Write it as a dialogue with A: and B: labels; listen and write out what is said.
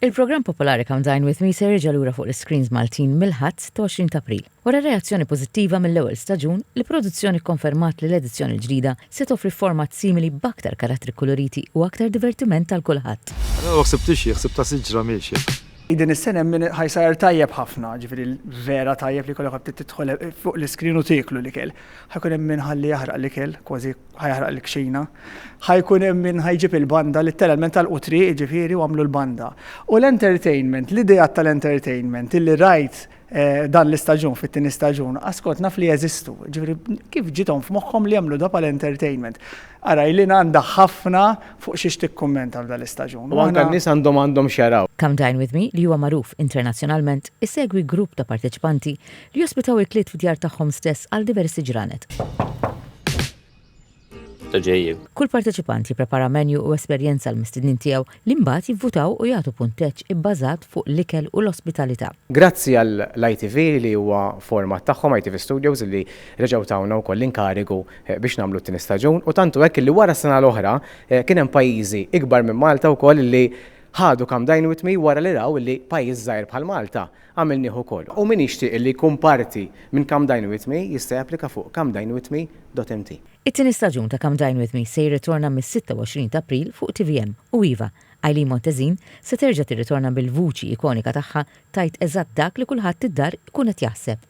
A: Il-programm popolari Come Dine With Me se jerġa' lura fuq l-iscreens Maltin mill-Ħadd 20 ta' April. Wara reazzjoni pożittiva mill-ewwel staġun, l-produzzjoni kkonfermat li l-edizzjoni l-ġdida se toffri format simili b'aktar karattri kkuluriti u aktar divertiment għal kulħadd. Allura ma ħsibtix xi,
B: ħsibt ta' siġra miexja. Din is-sena hemm
C: min ħa jsajjar tajjeb ħafna, ġifieri vera tajjeb li jkollok tidħol fuq l-iscreen u tieklu l-ikel. Ħa jkun hemm min ħalli jaħraq l-ikel, kważi ħa jaħraq l-kxina, ħa jkun hemm min ħa jġib il-banda, litteralment talqu triq jiġifieri u għamlu l-banda. U l-entertainment, l-ideat tal-entertainment illi rajt eh, dan l-istaġun fit-tieni staġun, askont naf li jeżistu. Ġifieri kif ġitom f'moħħhom li jagħmlu da pal entertainment Ara li għandha ħafna fuq xiex tikkummenta f'dan l-istaġun. U għandha n-nies għandhom
D: għandhom xaraw. Come Dine With Me li
A: huwa magħruf internazzjonalment isegwi grupp ta' parteċipanti li jospitaw il-kliet f'djar tagħhom stess għal diversi ġranet. Kull parteċipant jipprepara menju u esperjenza għall-mistednin tiegħu li mbagħad jivvutaw u jagħtu punteġġ ibbażat fuq l-ikel u l-ospitalità. Grazzi għall-ITV
D: li huwa format tagħhom, ITV Studios, li reġgħu tawna wkoll l-inkarigu biex nagħmlu t-tieni staġun u tant hu hekk li wara s-sena l-oħra kien hemm pajjiżi ikbar minn Malta wkoll li ħadu Come Dine With Me wara li raw li pajjiż żgħir bħal Malta Għamilnih ukoll. U min jixtieq li jkun parti minn Come Dine With Me jista' japplika fuq comedinewithme.mt. It-tieni staġun
A: ta' Come Dine With Me se jirritorna mis-26 ta' April fuq tvm u iva, Eileen Montezin se terġa' tirritorna bil-vuċi ikonika tagħha tgħid eżatt dak li kulħadd id-dar ikun qed jaħseb.